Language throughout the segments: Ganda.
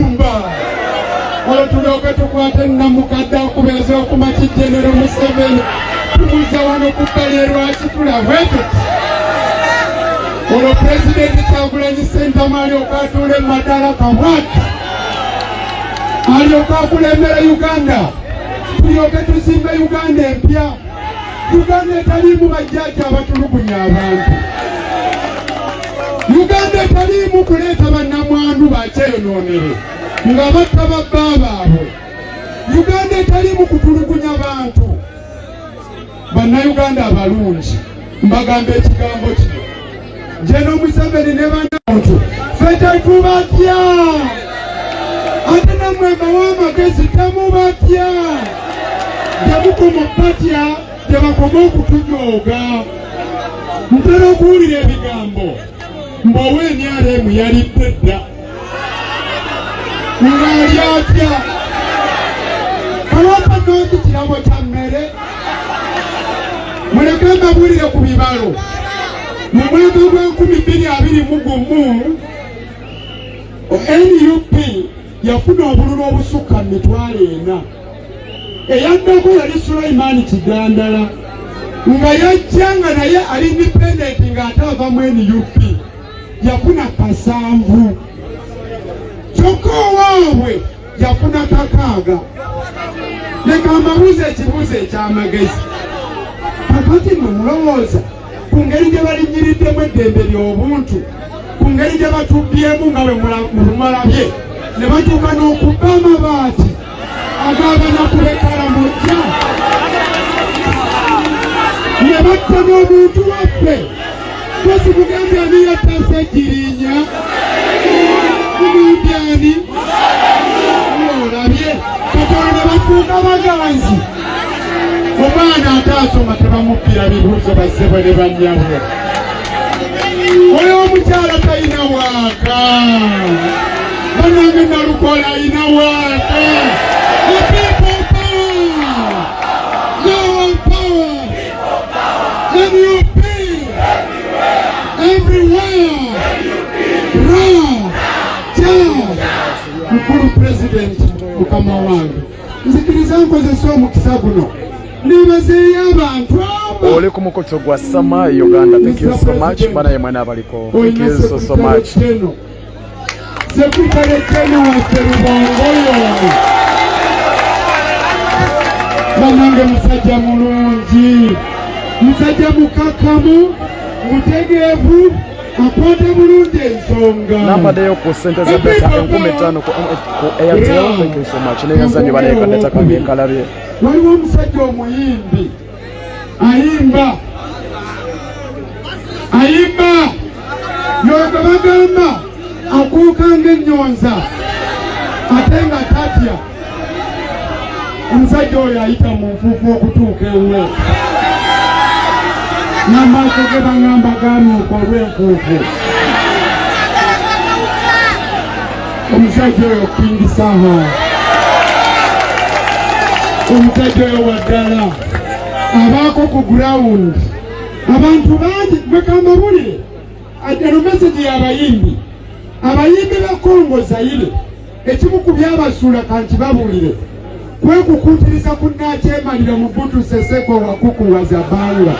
Mba olwetulyoke tukwate namukadde akubeeza okumaki genero museveni tumuza wano kubbali erwaki tulabwete olwo pulezidenti kyagulanyi sentamu alyoka atuule mu matala kabwati alyoka akulembera uganda tulyoke tuzimbe uganda empya Uganda etaliimu bajjajja abatulugunya abantu. Uganda etaliimu kuleeta bannamwandu bakyeyonoonere nga batta babba baabwe. Uganda etaliimu kutulugunya bantu. Bannayuganda abalungi mbagamba ekigambo kino. nje n'omuseveni ne banantu fe tetubatya ate namwe mbawa amagezi temubatya temukoma batya tebakoma okutujooga ntera okuwulira ebigambo mbowa emyalo emu yalidde dda ng'ali atya kawapa nooki kirabo kya mmere muleke mbabuulire ku bibalo mu mwezi gw'enkumi bbiri abiri mu gumu nup yafuna obululu obusukka mu mitwalo ena eyaddako yali sulaimaani kigandala nga yajja nga naye ali independenti ng'ate ava mu nup yafuna kasanvu kyokka owaabwe yafuna kakaaga leka mbabuuza ekibuuzo eky'amagezi kakati mwe mulowooza ku ngeri gye balinyiriddemu eddembe ly'obuntu ku ngeri gye batubbyemu nga bwe mulabye ne batuuka n'okubba amabaati agabana kubekala mujja ne batta n'omuntu waffe kosi mugambye ani yataasa egirinya muyimbi ani olabye katonda bafuuka baganzi omwana ate asoma tebamukkira bibuuzo bassebwe ne bannyabwe oyo omukyala talina waaka banange nalukola alina waaka Mkulu President, mkama wangu nzikiriza nkozesa omukisa guno nebazeeyo abantu oli ku mukutu gwa sama uganda thank you so much bana ye mwana abaliko thank you so so much sekutale kenu waffe lubongoyono banange musajja mulungi musajja mukakamu mutegeevu akwata bulungi ensonga nambadeyo ku sente za data enkumi ttaano ku airtel thank you so much neyazanyo baleeka data kange enkalabye waliwo omusajja omuyimbi ayimba ayimba yoga bagamba akuuka ng'ennyonza ate nga tatya omusajja oyo ayita mu nfuufu okutuuka ewuwe namaaso ge baŋamba ganuuka olw'enfuufu omusajja oyo kingisaho omusajja oyo waddala abaako ku gurawundi abantu bangi mwekambabulire eno mesegi yabayimbi abayimbi ba kongo zayire Ekimu ku byabasuula kanti babuulire kwekukuutiriza ku nnaakyemalira mu Butu Seseko wakukuwa Zabanga.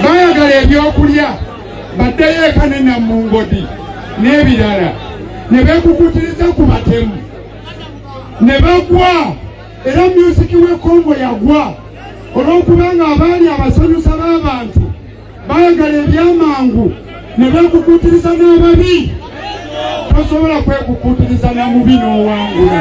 Baayagala ebyokulya baddeyo eka ne Namungodi n'ebirala ne beekukuutiriza ku batemu ne bagwa era myuziki w'e Kongo yagwa olw'okubanga abaali abasanyusa b'abantu baagala ebyamangu ne beekukuutiriza n'ababi tosobola kwekukuutiriza na mubi n'owangula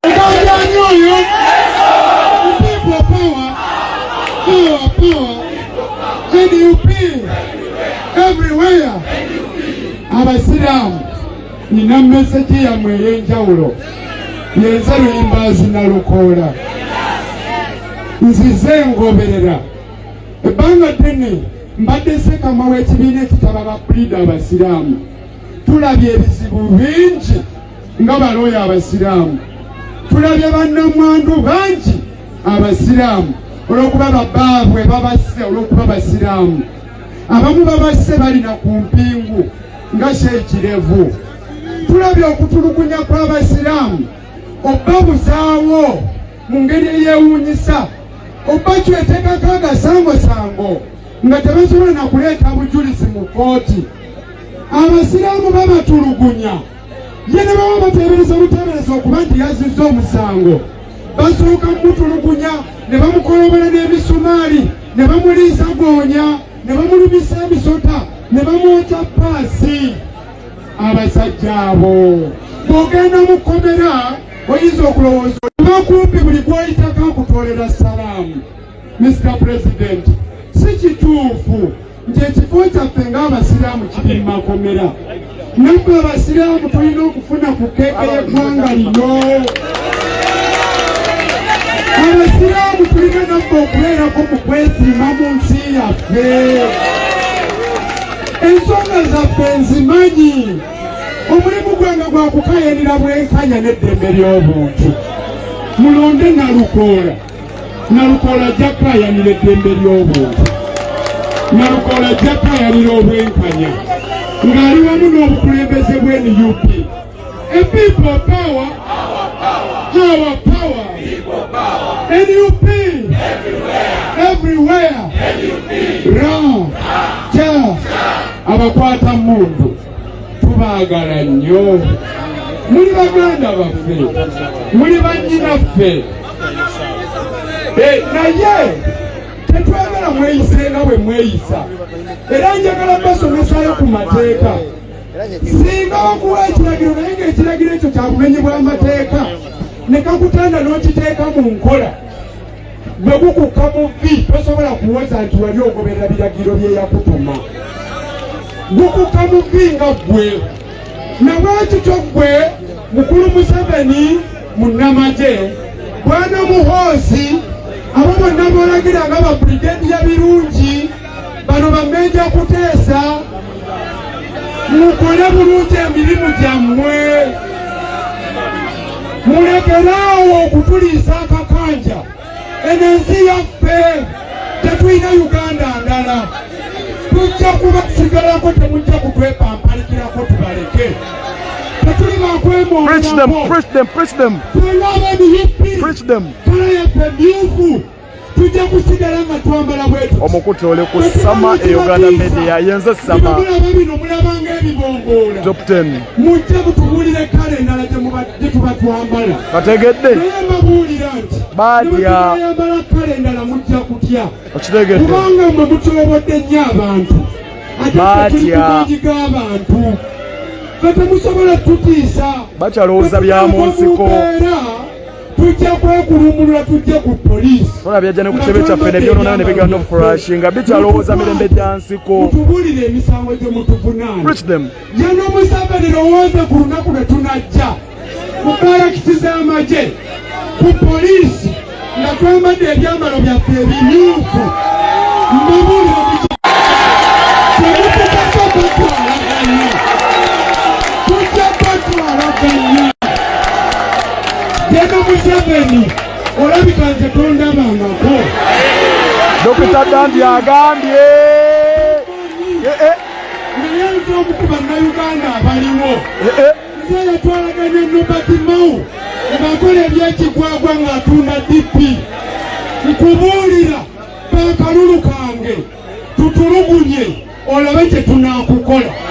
egajanyo oyo people power power power nup everywhere abasiraamu nina mesegi yammwe ey'enjawulo yenze luyimbaazi na lukoola nzize ngoberera ebbanga ddene mbadde sekama w'ekibiina ekitaba ba pulida abasiraamu tulabye ebizibu bingi nga balooya abasiraamu tulabye bannamwandu bangi abasiraamu olw'okuba babaabwe babasse olw'okuba basiraamu abamu babasse balina ku mpingu nga kyekirevu tulabye okutulugunya kw'abasiraamu obbabuzaawo mu ngeri eyeewuunyisa obaki eteekako agasangosango nga tebasobola na kuleeta bujulizi mu kkooti abasiraamu babatulugunya ye ne baba bateebereza buteebereza okuba nti yazizza omusango basooka mumutulugunya ne bamukolobola n'emisumaali ne bamuliisa goonya ne bamulumisa emisota ne bamwokya paasi abasajja abo bw'ogenda mu kkomera oyinza okulowooza okumpi buli gw'oyitako akutwolera salaamu mr president si kituufu nti ekifo kyaffe ng'abasiraamu kiri mu makomera nabbe abasiraamu tulina okufuna ku keeka y'eggwanga lino abasiraamu tulina nabbe okubeerako mu kwesiima mu nsi yaffe ensonga zaffe nzimanyi omulimu gwe nga gwakukayanira bwenkanya n'eddembe ly'obuntu mulonde nalukoola nalukoola ajja kukayanira eddembe ly'obuntu nalukoola ajja kukayanira obwenkanya ng'ali wamu n'obukulembeze bw'enup epipo pawa awa pawa nup everywhere ra ja abakwata mundu tubaagala nnyo muli baganda baffe muli bannyinaffe eh, naye tetwagala mweyise nga bwe mweyisa era njagala basomesayo ku mateeka singa wakuwa ekiragiro naye ngaekiragiro ekyo kyakumenyebwa amateeka nekakutanda n'okiteeka mu nkola bwe gukukka mu vvi tosobola kuwoza nti wali ogoberera biragiro bye yakutuma gukukka mu vvi nga ggwe nabwekityo ggwe mukulu museveni munnamagye bwana muhoozi abo bonna bolagira nga babrigedi ya birungi bano bamenja kuteesa mukole bulungi emirimu gyammwe mulekeraawo okutuliisa akakanja eno ensi yaffe tetulina uganda ndala tujja kubasigalako temujja kutwepampalikirako tubaleke tetuli bakwemooaabo tulabe niyippi kala yaffe myufu tujja kusigala nga twambala bwetu omukutu oli ku sama e uganda media yenze sama bino mulabanga ebibongoola top 10 mujja mutubuulire kale endala gye tuba twambala bategedde naye mbabuulira nti batyayambala kale endala mujja kutya okitegedde kubanga mwe mutyobodde nnyo abantu atetulikumagi g'abantu fe temusobola kututiisa bakyalowooza bya mu nsiko tujja kwekulumulula tujje ku poliisi ona byajja ne ku kitebe kyaffe ne byonona ne bigana okufurashi nga bikyalowooza mirembe gya nsiko mutubulire emisango gye mutuvunaana ye n'omuseveni lowooze ku lunaku lwe tunajja ku balakisi z'amagye ku poliisi nga twambadde ebyambalo byaffe ebimyufu mbabulire Genda Museveni olabika nze tondabangako. Dokita Dandi agambye eh, eh. naye nze omu ku bannayuganda abaliwo eh, nze yatwalaganya Nobert Mao ng'akola ebyekigwagwa ng'atunda DP nkubuulira kakalulu kange tutulugunye olabe kye tunaakukola